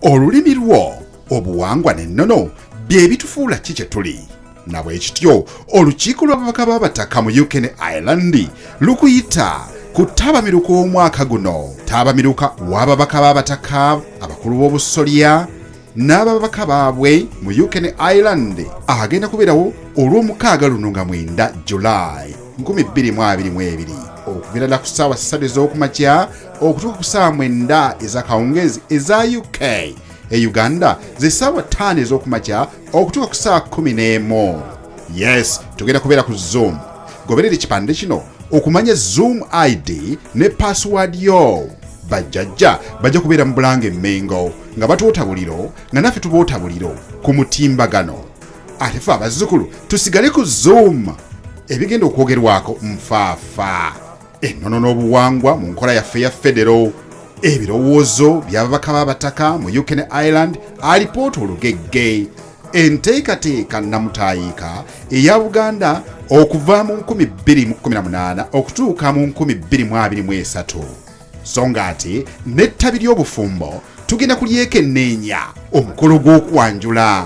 olulimi lwo obuwangwa n'ennono bye bitufuula ki kye tuli na bwe kityo olukiiko lw'ababaka b'abataka mu uk ne ireland lukuyita ku ttabamiruka omwaka guno ttabamiruka w'ababaka b'abataka abakulu b'obusolya n'ababaka baabwe mu uk ne ireland agenda kubeerawo olw'omukaaga luno nga mwenda july 2022 okubeera na ku ssaawa ssatu ez'okumakya okutuuka ku ssaawa mwenda ezakawungeezi eza uk e uganda ze ssaawa ttaano ez'okumakya okutuuka ku ssaawa kumi n'emu yes tugenda kubeera ku zoom goberera ekipande kino okumanya zoom id ne pasiwaadi yo bajjajja bajja kubeera mu bulanga emmengo nga batuwota buliro nga naffe tuboota buliro ku mutimbagano ate fe abazzukulu tusigale ku zoom ebigenda okwogerwako nfaafa ennono n'obuwangwa mu nkola yaffe ya federo ebirowoozo by'ababaka b'abataka mu uk ne ireland alipoota olugegge enteekateeka nnamutaayiika eya buganda okuva mu 218 okutuuka mu 223 so nga ate n'ettabi ly'obufumbo tugenda kulyekenneenya omukolo gw'okwanjula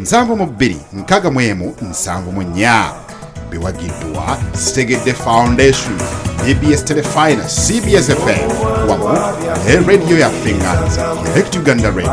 nsanvu mu bbiri nkaga mu emu nsanvu mu nnya biwagiddwa sitegedde foundation abs telefina cbs fm wamu ne radiyo ya fingans direct uganda radio